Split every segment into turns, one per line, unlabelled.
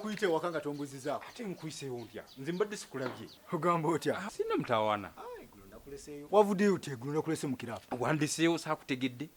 nkuyite ewaka nga tombuzizaako ate nkuyiseewo ntya
nze mbadde sikulabye ogamba otya ah,
sinna mutawaana
ah,
wavudeyo ti egulu nakulese mu kiraabu wandiseewo saakutegedde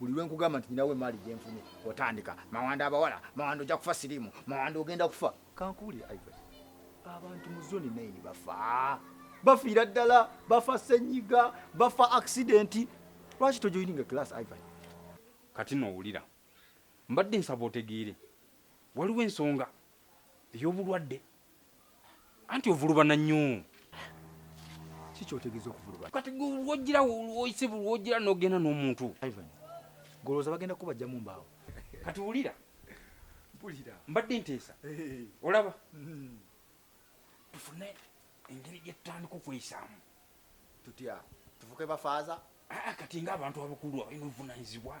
buli lwe nkugamba nti nyinawo emaali gye nfunye otandika mawanda abawala mawanda ojja kufa siriimu mawanda ogenda kufa kankuwulire ivan abantu mu zoni naini bafa bafiira ddala bafa senyiga bafa akisidenti lwaki tojoyininga class ivan kati
nowulira mbadde nsaba otegeere waliwo ensonga ey'obulwadde anti ovulubana nnyo
ki kyotegeeza okuvulubana kati lwogira
isibu lwogira nogenda n'omuntu
golowooza bagenda kubajjamu mbaawo kati wulira
mpulira
mbadde nteesa
olaba mm-hmm. tufune engeri gyetutandika okweyisaamu tutya
tufuke bafaaza ah, kati nga abantu
abakulu abalina obuvunanyizibwa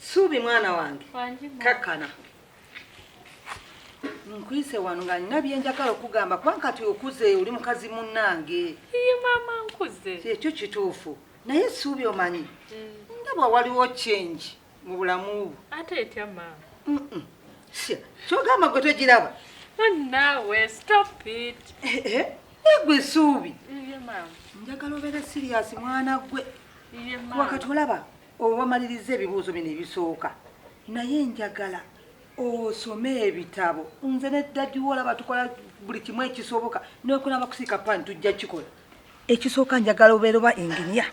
Suubi mwana wange kakkana nkwise wano nga nina byenjagala okugamba kuba nkati okuze oli mukazi munnange
ekyo kituufu
naye suubi omanyi mm. ndabwa waliwo change mu bulamu bwo ate etya
maama kyogamba
gwe togiraba naawe
stop it egwe eh,
eh, eh, suubi
njagala obeere
siriyasi mwana gwe wakati
olaba
owamaliriza ebibuuzo bino ebisooka naye njagala osome ebitabo nze ne dadi wolaba tukola buli kimu ekisoboka nokunaba kusiika pani tujja kikola ekisooka njagala obeera oba enginia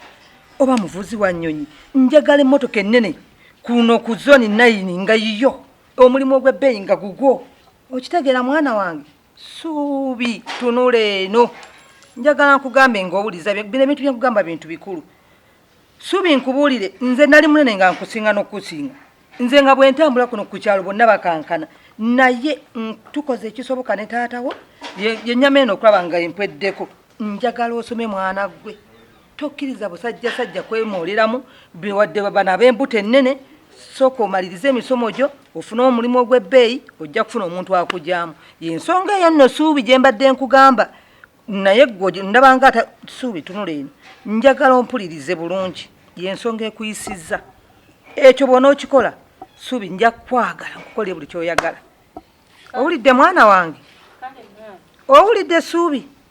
oba muvuzi wa nnyonyi njagala emmotoka ennene kuno ku zoni nayini nga yiyo omulimu ogw'ebbeeyi nga gugwo okitegeera mwana wange Suubi, tunula eno. Njagala nkugambe ng'owuliza bino ebintu bye nkugamba bintu bikulu. Suubi nkubuulire, nze nali munene nga nkusinga n'okukusinga. Nze nga bwe ntambula kuno ku kyalo bonna bakankana, naye mm, tukoze ekisoboka ne taata wo ye- yennyama eno okulaba nga empweddeko. Njagala osome mwana ggwe. tokkiriza busajja sajja kwemooleramu wadde bana ab'embuto ennene sooka omalirize emisomo gyo ofune omulimu ogw'ebbeeyi ojja kufuna omuntu akugyamu yensonga eyo nno suubi gye mbadde nkugamba naye gwe ndabanga ata suubi tunula eno njagala ompulirize bulungi yensonga ekuyisizza ekyo bwona okikola suubi nja kukwagala nkukolere buli kyoyagala owulidde mwana wange owulidde suubi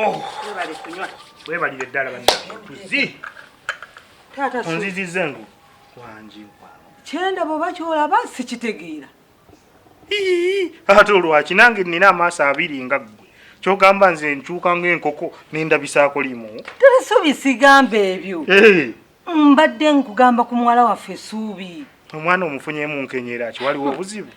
Oh. webalire eddala
banatuzi
onziziza engu
wangi kyenda
bwoba kyolaba sikitegeera
ate olwaki nange nina amaaso abiri nga ggwe kyogamba nze nkyuka ngaenkoko nendabisaako limu tesuubi sigamba
ebyo eh. mbadde nkugamba ku muwala waffe esuubi omwana omufunyemu
nkenyera
ki waliwo
obuzibu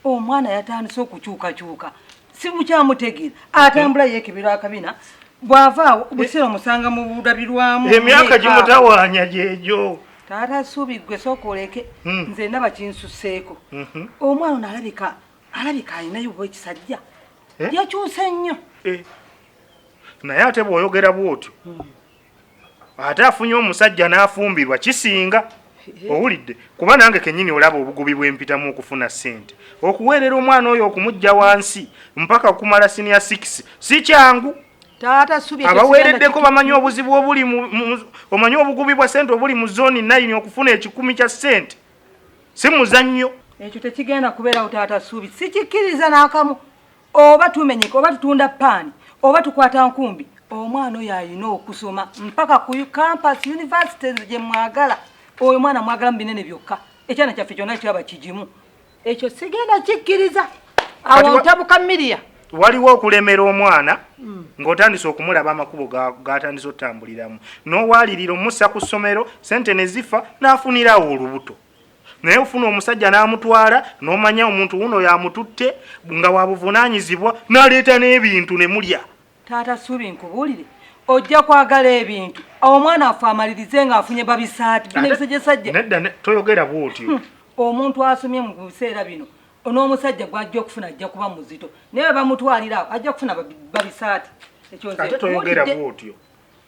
omwana
yatandise okukyukakyuka
simukyamutegeera atambula yekebera akabina bwavaawo buseera omusanga mu bulabirwamu emyaka gimutawaanya
gyegyo taata suubi
gwe sooka oleke hmm. nze ndaba kinsuseeko mhm. omwana ono alabika alabika alinayo bwa ekisajja eh? yakyuse nnyo eh.
naye ate bw'oyogera bw'otyo hmm. ate afunye omusajja n'afumbirwa kisinga owulidde kuba nange kenyini olaba obugubi bwempitamu okufuna sente okuweerera omwana oyo okumujja wansi mpaka okumala sinia 6 si kyangu
abaweereddeko bamanyi
obuzibu obuli omanyi obugubi bwa sente obuli mu zooni nayini okufuna ekikumi kya sente si muzannyo ekyo tekigenda
kubeerawo taata suubi sikikkiriza n'akamu oba tumenyeka oba tutunda paani oba tukwata nkumbi omwana oyo alina okusoma mpaka ku campus university gye mwagala oyo mwana mwagala mu binene byokka ekyana kyaffe kyonna kiraba kigimu ekyo sigenda kikkiriza awo ntabuka miria waliwo okulemera
omwana hmm. ng'otandise okumulaba amakubo gatandise otambuliramu n'owalirira omussa ku ssomero sente ne zifa n'afunirawo olubuto naye ofuna omusajja n'amutwala n'omanya omuntu wuno yamututte nga wabuvunaanyizibwa n'aleeta n'ebintu ne mulya taata suubi
nkubuulire ojja kwagala ebintu omwana affe amalirize ng'afunye babisaati binebisajjasajja nedda toyogera
bwotyo hmm. omuntu asomye
mu biseera bino n'omusajja gw'ajja okufuna ajja kuba muzito naye bamutwalira ajja kufuna babisaati ekyo nze ate
toyogera bwotyo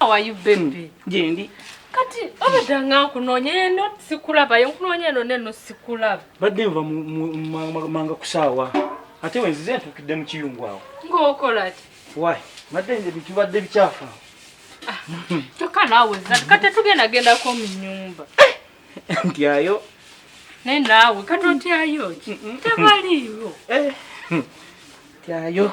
How are you baby? Jendi. Hmm.
Kati
obadde nga nkunoonya eno sikulaba yo nkunoonya eno neno sikulaba. Badde nva
manga kusaawa ate wenzize ntuukidde mu kiyungu awo. Ng'okola ki?
Why? Badde
nze bitubadde bikyafu. Ah,
kyokka naawe zati kati tugenda gendako mu nnyumba. Ntyayo. Naye naawe kati otyayo ki? Tebaliiwo. Eh, hmm.
Ntyayo.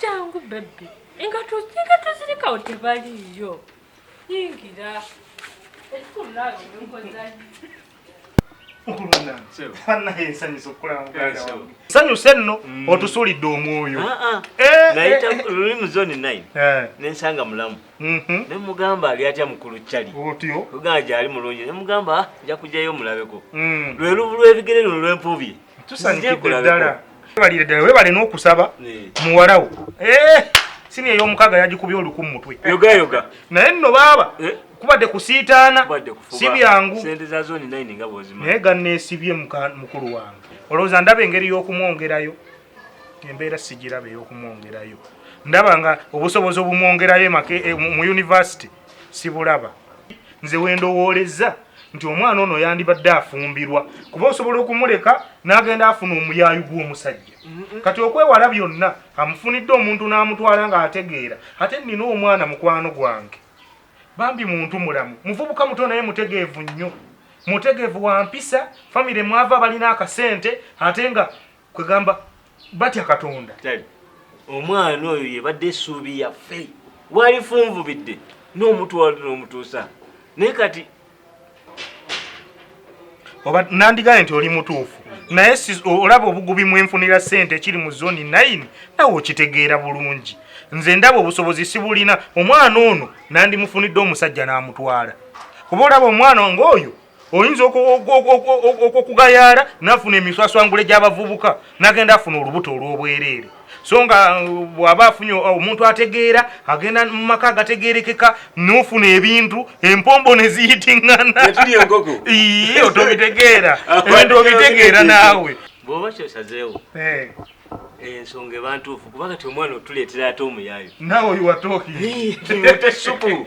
jangu bebbi engato zirikawo tebaliiyo yingira
sanyuse nno mm. otusulidde omwoyo ah, ah. Eh, eh. nayita
luli mu zoni 9 eh. nensanga mulamu Mhm. Ne mugamba ali atya mukulu chali. Otyo. Lugana gyali
mulungi.
Ne mugamba ah, nja kujayo mulabeko. Mm. Lwe lubu lwebigere luno lwempubye. Tusanyikidde
ddala. Webalire ddala webale n'okusaba muwalawo. Eh, sini ey'omukaga yagikubye oluku mu mutwe. Yoga yoga. Naye
nno baaba.
Eh? kubadde kusiitaana si byangu
naye ganneesibye
mukulu wange olowooza ndaba engeri y'okumwongerayo embeera sigiraba ey'okumwongerayo ndaba nga obusobozi obumwongerayo e, mu yunivasite sibulaba nze wendowooleza nti omwana ono yandibadde afumbirwa kuba osobola okumuleka n'agenda afuna omuyaayu gw'omusajja kati okwewala byonna amufunidde omuntu n'amutwala ng'ategeera ate nnina omwana mukwano gwange bambi muntu mulamu muvubuka muto naye mutegeevu nnyo mutegeevu wampisa famire mwava balina akasente ate nga kwegamba batya katonda omwana
oyo yebadde esuubi yaffe walifunvubidde n'omutwalo n'omutuusa naye kati
oba nandigaye nti oli mutuufu naye olaba obugubi mwenfunira sente ekiri mu zoni 9 nawe okitegeera bulungi nze ndaba obusobozi sibulina omwana ono nandimufunidde omusajja n'amutwala kuba olaba omwana ngaoyo oyinza okugayaala nafuna emiswaswangule gy'abavubuka nagenda afuna olubuto olw'obwereere so nga uh, bwaba afunye uh, omuntu ategeera agenda mu maka agategeerekeka nofuna ebintu empombo neziyitinganaotobitegeera ebintu obitegeera naawe bwoba kyosazeewo
eh. ensonga ebantuufu kuba kati omwana otuleetera ate omuyaayo nawe oyiwatooki
otesuku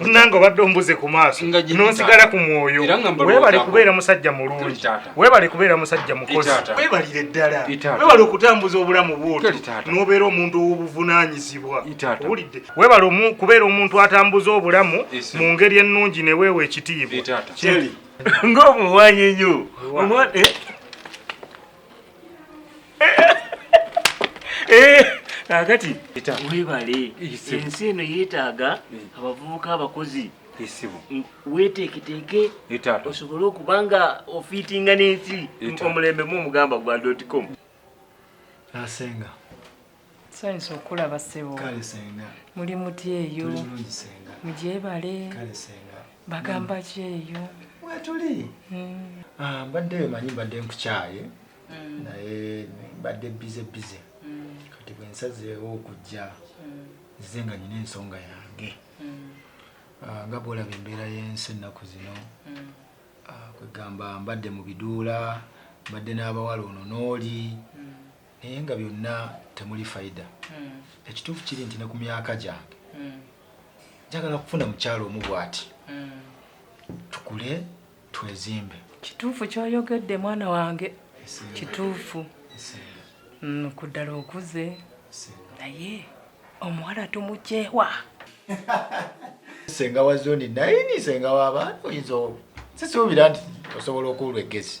nange obadde ombuze ku maaso nonsigala ku mwoyo webale kubeera musajja mulungi webale kubeera musajja mukozi webalire ddala webale okutambuza obulamu bwoto nobeera omuntu owobuvunanyizibwa owulidde webale kubeera omuntu atambuza obulamu mu ngeri ennungi neweewa ekitiibwa
ngaomuwanyi nyo kakati eh, webale ensi eno yeetaaga eh. abavubuka abakozi esibu weteeketeeke osobole okuba nga ofiitinga n'ensi omulembe mu omugamba gwa dotcom
asenga
nsanyusa okulaba ssebo
muli muti eyo mugyebale bagamba ki
eyo wetuli
hmm. ah, mbadde wemanyi mbadde nkukyaye hmm. naye mbadde bize bize hmm. kati bwensazeewo okujja nzize nga nyina ensonga yange ah, nga bwolaba embeera y'ensi ennaku zino ah, kwegamba mbadde mu biduula mbadde n'abawala ono n'oli naye nga byonna temuli faida hmm. ekituufu kiri nti ne ku myaka gyange hmm. njagala kufuna mukyalo omu bwati hmm. tukule twezimbe kituufu
kyoyogedde mwana wange kituufu ku ddala okuze naye omuwala tumukyewa
senga wa zoni naye ni senga wa baana oyinza sisuubira nti osobola okuulwa eggezi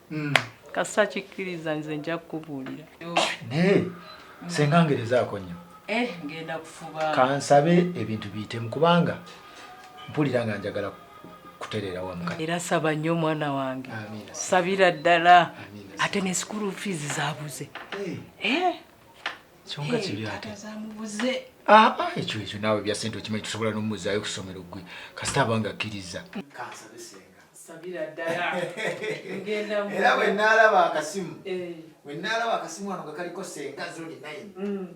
mm. kasita kikkiriza nze nja kukubuulira naye
senga ngerezaako nnyo eh,
kansabe ebintu
biyitemu kubanga mpulira nga njagala kutereera wamu era saba nnyo omwana
wange sabira ddala ate ne sukulu fiizi zabuze eh. Eh.
kyonga kibi ate
Ah, ah, ekyo ekyo
naawe bya sente okimanyi tusobola n'omumuzaayo okusomero gwe kasita abanga akkiriza kansabe senga
era bwe naalaba
akasimu eh. bwe naalaba akasimu wano nga kaliko senga zoni nine mm.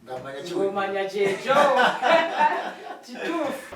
ngamanya kyekyo
kituufu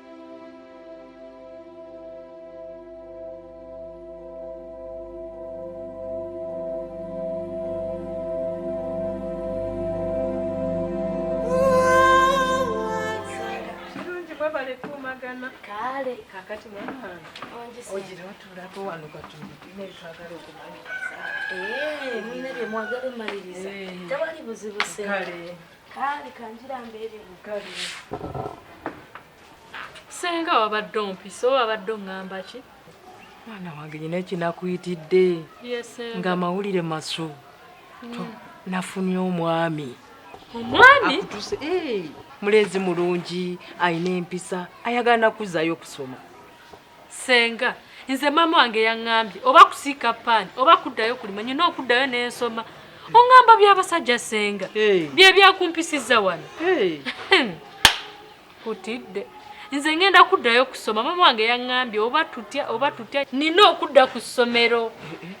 Eh, mwagala
omaliriza eh.
tewali buzibu sente kaali kanjira mbeere mugabi senga wabadde ompisa oba wabadde oŋŋamba ki mwana wange
nyina ekinakuyitidde nga amawulire masu mm. nafunye omwami omwami
eh,
mulezi mulungi alina empisa ayagala nakuzayo okusoma Senga,
nze maama wange yangambye oba kusiika paani oba kuddayo kulima nyina okuddayo nensoma ongamba byabasajja senga byebyakumpisizza wano kutidde nze ngenda kuddayo kusoma maama wange yangambye oba tutya oba tutya nina okudda ku ssomero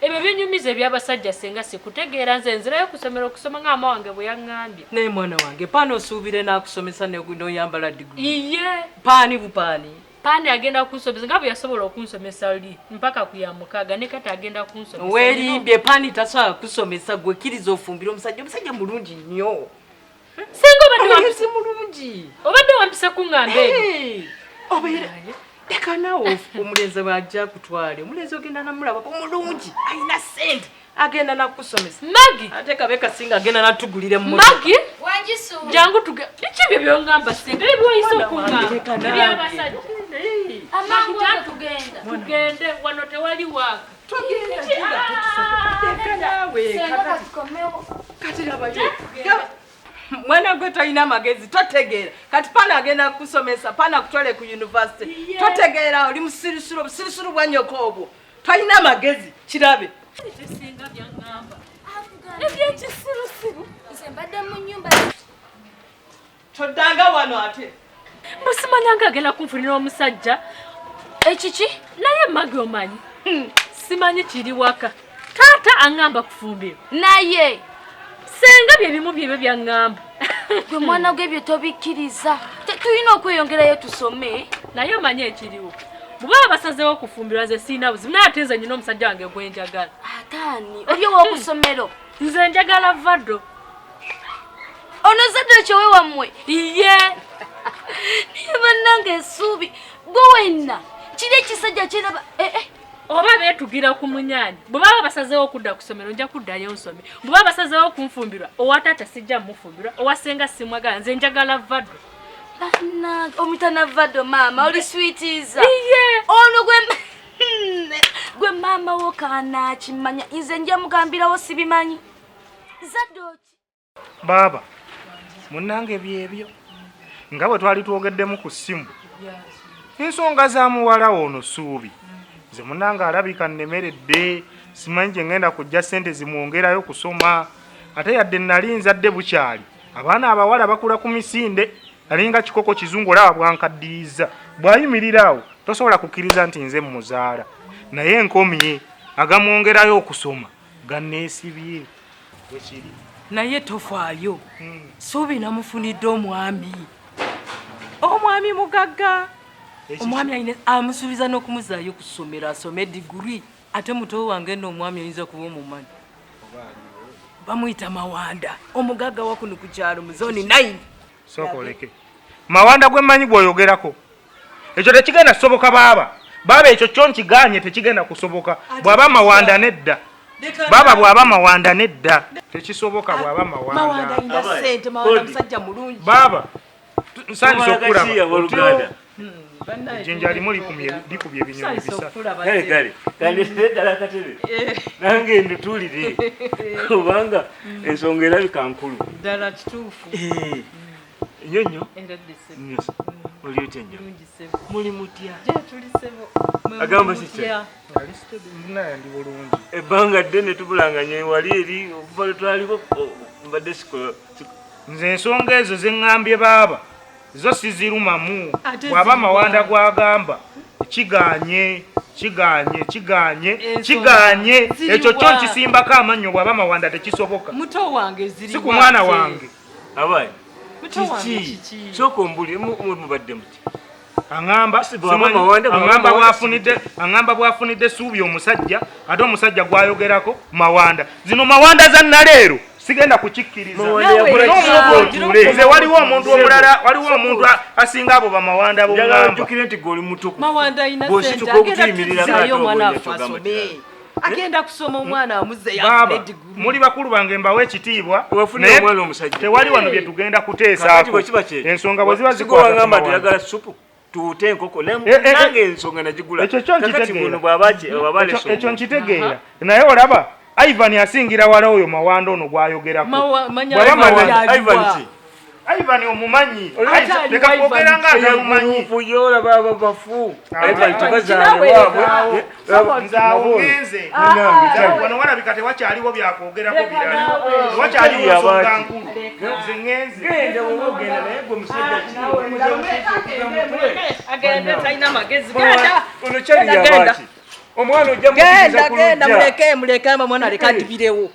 ebyo binyumiza ebyabasajja senga sikutegeera nze nzirayo kusomero okusoma nga maama wange bwe yangambye naye mwana wange paani
osuubire nakusomesa noyambala
diguli
iye paani bupaani Pani
agenda kunsomesa nga bwe yasobola okunsomesa oli mpaka ku ya mukaaga ne kati agenda kunsomesa. Weerimbye pani
tasobola kusomesa gwe kkiriza ofumbira omusajja omusajja mulungi nnyo. Singa
obadde wampise mulungi.
Obadde wampise
kung'amba ebyo. Obeera
leka naawe omulenzi bw'ajja akutwale omulenzi ogenda namulabako mulungi alina ssente agenda nakukusomesa magi ate kabe
kasinga agenda
natugulire mu magi wanjisu
jangu tuge biki byo byongamba singa byo byoyise okunga ebyabasajja amangu tugenda tugende wano tewali waka tugenda tugenda ah!
kati labayo mwana gwe tolina magezi totegeera kati pana agenda kukusomesa pana kutwale ku yunivasite totegeera oli musirisiro busirisiro bwanyoko obwo talina magezi kirabe
ebyekisirusiru
nze mbadde mu nyumba toddanga
wano ate musimanya nga
agenda kunfunira omusajja ekiki naye magi omanyi hmm. simanyi kiri waka taata aŋamba kufumbiro naye
senga
bye bimu byebyo byaŋŋamba gwe mwana
gwe ebyo tobikkiriza tulina okweyongerayo tusome naye omanye
ekiriwo bwe baba basazeewo okufumbirwa nze sirina buzibu naye ate nze nyina omusajja wange gwe njagala ataani oli
owokusomero nze njagala
vado
ono zadde ekyowe wammwe iye naye bannange esuubi gwe wenna kiri ekisajja kyeraba eh, eh. oba
beetugira ku munyaanya bwe baba basazeewo okudda ku ssomero nja kuddayo nsome bwe baba basazeewo okunfumbirwa owa taata sijja mmufumbirwa owa ssenga simwagala nze njagala vado
omutana vado maama oli switiza ono
gwe hmm,
gwe maama wo kaanaakimanya nze nja mugambirawo sibimanyi zadoki baaba
munange byebyo nga bwe twali twogeddemu ku ssimu ensonga za muwala ono suubi nze munange alabika nnemeredde simanyi gye ngenda kujja ssente zimwongerayo kusoma ate yadde nali nzadde bukyali abaana abawala bakula ku misinde alinga kikoko kizungu olaba bwankaddiyiza bwayimirira awo tosobola kukkiriza nti nze muzaala naye nkomye agamwongerayo okusoma ganneesibye wekiri naye
tofaayo hmm. suubi namufunidde omwami omwami mugagga omwami ayina amusuubiza n'okumuzaayo ku ssomero asome diguri ate muto wange n'omwami oyinza kuba omumanyi bamuyita mawanda omugagga wakuno ku kyalo mu zoni 9 sooka oleke
mawanda gwe mmanyi gwoyogerako ekyo tekigenda kusoboka baaba baaba ekyo kyo nkiganye tekigenda kusoboka bwaba mawanda nedda baba bwaba mawanda nedda tekisoboka bwaba mawanda
baba
nsanyisa okukulamu
ejjinja limu likubye ebinyonyi bisatugale ddala katebe nange nditulire kubanga ensonga erabika nkulu ddala kituufu nyo nyo oli otya nyo muli mutya agamba kitya ebbanga ddene tubulanganya wali eri okuva lwetwaliko mbadde sikola nze ensonga
ezo zeŋŋambye baaba zo sizirumamu bwaba mawanda gwagamba kiganye kiganye kiganye kiganye ekyo kyo nkisimbako amannyo bwaba mawanda tekisoboka
si ku mwana wange
abaye
kiki kyoka ombulire mubadde muti
aŋamba bwafunidde suubi omusajja ate omusajja gwayogerako mawanda zino mawanda za naleero sigenda kukikkiriza nze waliwo omuntu omulala waliwo omuntu asinga abo bamawanda bomugambanjukire nti gwe oli mutuku mawanda
ayina sente agenda kutuzayo omwana afe asome agenda kusoma omwana amuzeyaaba muli
bakulu bange mbawo ekitiibwa naye tewali wano bye tugenda kuteesaako ensonga bwe ziba zikwaagamba teyagala supu
tuute enkoko eh, eh, eh. nange ensonga nagigula
ekyo nkitegeera naye olaba ivan asingira wala oyo mawanda ono gwayogerakoivan Ivan omumanyi leka kwogera nga atamumanyi
omwana ojja genda genda muleke
muleke ama mwana aleka atibirewo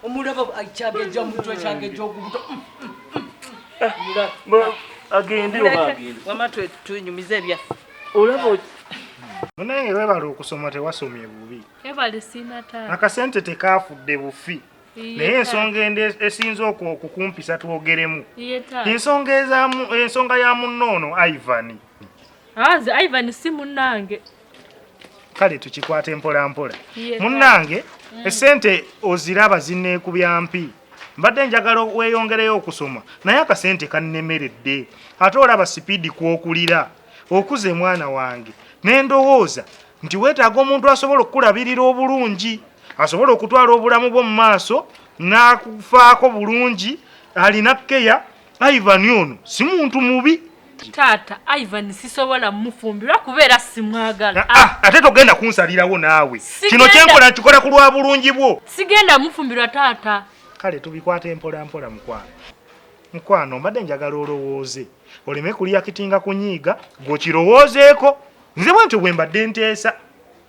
omulaba kyageja mutwe kyageja okubuto
agende wama twenyumiza
ebyaffe
olaba
munaye webala okusoma tewasomye bubi
akasente tekafudde
bufi naye ensonga ende esinza okukumpisa twogeremu ensonga ezamu ensonga ya munno ono ivan aze
ah, ivan si munnange
kale tukikwate mpolampola munnange esente oziraba zineekubya mpi mbadde njagala weyongereyo okusoma naye akasente kannemeredde ate olaba sipiidi kwokulira okuze mwana wange nendowooza nti weetaaga omuntu asobola okukulabirira obulungi asobola okutwala obulamu bwo mu maaso n'akufaako bulungi alina keya Ivan ono si muntu mubi. Taata
Ivan sisobola mufumbirwa kubeera simwagala. Ah, ah, ate togenda
kunsalirawo naawe. Kino kyenkola nkikola ku lwa bulungi bwo. Sigenda mufumbirwa
taata. Kale tubikwata
empola mpola mukwano. Mukwano mbadde njagala olowooze oleme kuliyakitinga kunyiiga gwokirowoozeeko nze bwentyo bwe mbadde nteesa.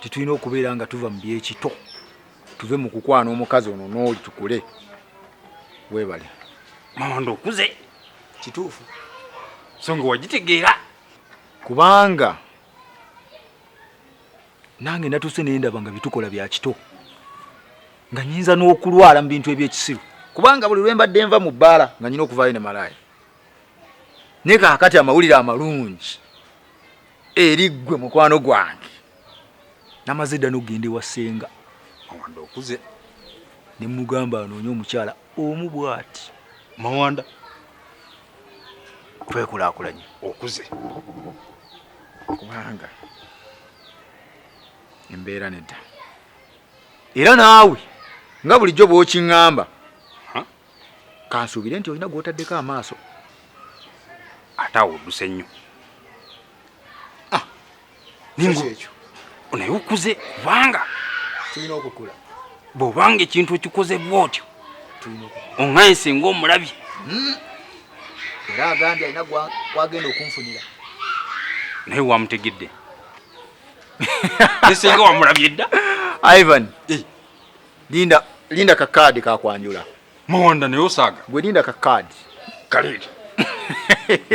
titulina okubeera nga tuva mu byekito tuve mu kukwana omukazi ono n'oli tukule webale
mawanda okuze kituufu so nga wagitegeera kubanga
nange natuuse naye ndaba nga bitukola bya kito nga nyinza n'okulwala mu bintu ebyekisiru kubanga buli lwe mbadde nva mu bbaala nga nyina okuvaayo ne malaaya naye kaakati amawulire amalungi eri ggwe mukwano gwange namaze dda nokugenda ewa ssenga mawanda okuze
ne
mugamba anoonye omukyala omu bwati mawanda twekulakulanye okuze kubanga embeera nedda era naawe nga bulijjo bwokiŋŋamba kansuubire nti olina gwotaddeko amaaso
ate awo odduse nnyo
ah, ekyo naye
okuze kubanga tulina
okukula bwobanga
ekintu okikoze bwotyo oŋaye singa omulabye hmm.
era agambye alina kwagenda okunfunira
naye wamutegedde nesinga wamulabye dda ivan eh.
Linda linda ka card ka kwanjula. Mawanda ne
osaga. Gwe linda ka card.
Kalidi.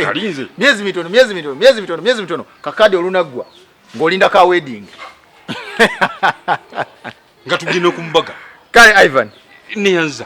Kalinze. Miezi mitono,
miezi mitono, miezi mitono, miezi mitono. Ka card olunagwa. Ngolinda ka wedding.
Nga tugine kumbaga. Kale Ivan.
Ni yanza.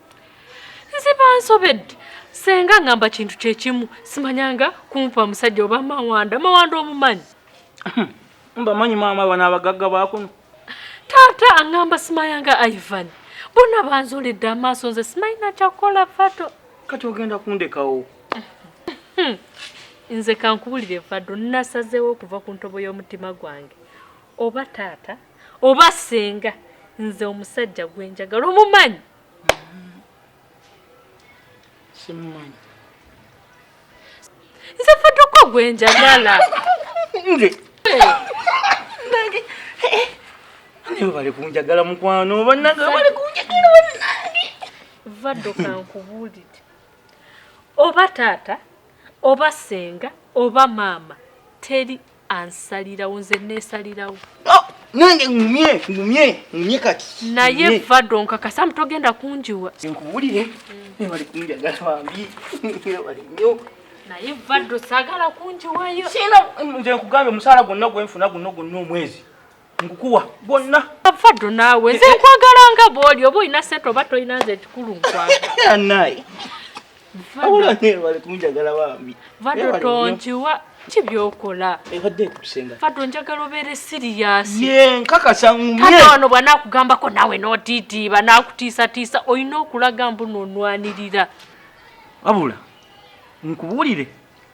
nze bansobedde senga ngamba kintu kyekimu simanyanga kumpa musajja oba mawanda mawanda omumanyi
mbamanyi maama bano abagagga bakuno taata
angamba simayanga ivan bona banzoledde amaaso nze simayina kyakukola fato kati ogenda
kundekawo hmm.
nze kankubulire vado nasazeewo okuva ku ntobo y'omutima gwange oba taata oba senga nze omusajja gwenjagala omumanyi
simumanyi
nze fadoko gwenjagala nze
naye bali kunjagala mukwano banange bali kunjagala banange vadoka
nkubuulire oba taata oba senga oba maama teri ansalirawo nze nesalirawo oh, nange
ngumye ngumye ngumye kati naye vado
nkakasa mutogenda kunjiwa nkubulire
nebali kunjagala bambi nebali nyo naye vado
sagala kunjiwayo sina nze
nkugambye omusaala gwonna gwenfuna guno gwonna omwezi nkukuwa gwonna faddu naawe
nze nkwagala nga bwoli oba olina sente oba tolina nze ekikulu nkwagalaanaye awulanebalekumugyagala
bambi faddu tonkiwa
ki byokola ebadde ekusenga
faddu njagala obeere
siriyasi ye nkakasa
ngumye wano bwanakugambako
naawe notiitiiba nakutiisatiisa olina okulaga mbu nonwanirira
wabula nkubuulire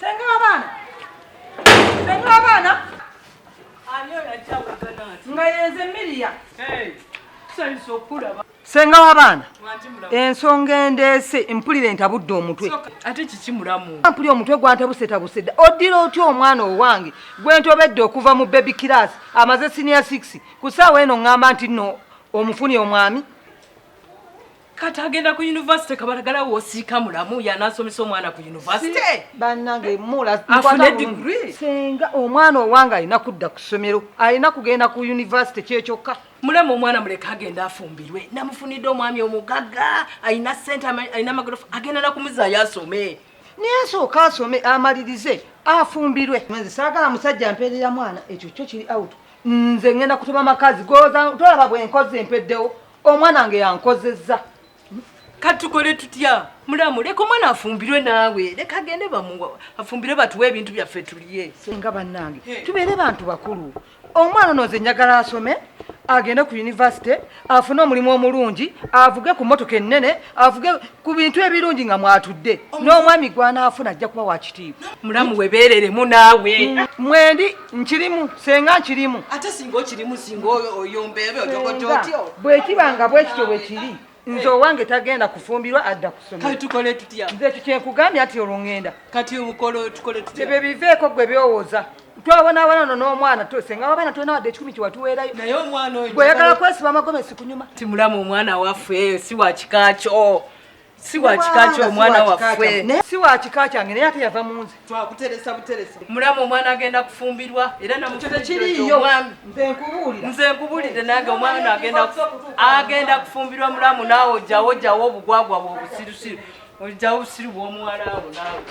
Senga wabana. Senga wabana. Anyo ya chawe
ganati. Nga yenze milia. Hey.
Sali
sokura ba. Senga wabana.
Ensonga endese mpulire ntabudde omutwe. Ate kiki
mulamu? Mpulire omutwe gwantabuse
tabuse. Odira oti omwana owange gwentobedde okuva mu baby class amaze senior 6 kusaawa eno ngamba nti no omufunye omwami.
kati agenda ku university kabalagala wosiika mulamu yanasomesa omwana ku university banange
mula afune degree
senga omwana
owanga alina kudda ku ssomero alina kugenda ku university kyekyokka mulema omwana muleka
agenda afumbirwe namufunidde omwami omugaga alina sente alina amagorofa agenda nakumuzaayo asome naye asooka
asome amalirize afumbirwe nze saagala musajja mpeerera mwana ekyo kyo kiri out nze ngenda kutuma makazi goza tolaba bwenkozi mpeddewo omwana wange yankozezza kati
tukole tutya mulamu leka omwana afumbirwe naawe leka agende bamuwa afumbire batuwe ebintu byaffe tuliye senga bannange
tubeere bantu bakulu omwana ono nze njagala asome agende ku yunivasite afune omulimu omulungi avuge ku motoka ennene avuge ku bintu ebirungi nga mwatudde n'omwami gwanaafuna ajja kuba wakitiibwa mulamu webeereremu
naawe mwendi
nkirimu senga nkirimu ate singa okirimu
singa oyombeebe ojogojootyo bwekiba nga bwekityo
bwekiri nze owange tagenda kufumbirwa adda kusometukole tutya nze
ekyo kyenkugambye
ati olwo ŋŋenda kati obukolo
tukole tutya ebyo biveeko gwe
byowooza twabonabona ono n'omwana senga wabaana tulina wadde ekikumi kyewatuweerayo naye omwana oyo
gweyagala kwesiba amagomesi
kunyuma timulamu omwana
waffe si wakikakyo si wa kika kyo omwana waffe si wa kika kyange
naye ate yava munze twakuteresa buteresa
mulamu omwana agenda kufumbirwa era namukyokiriiyomwami nze nkubulidde nange omwana agenda agenda kufumbirwa mulamu naawe ojjawo ojjawo obugwagwa bwobusirusiru ojjawo obusiru bwomuwalaawo naawe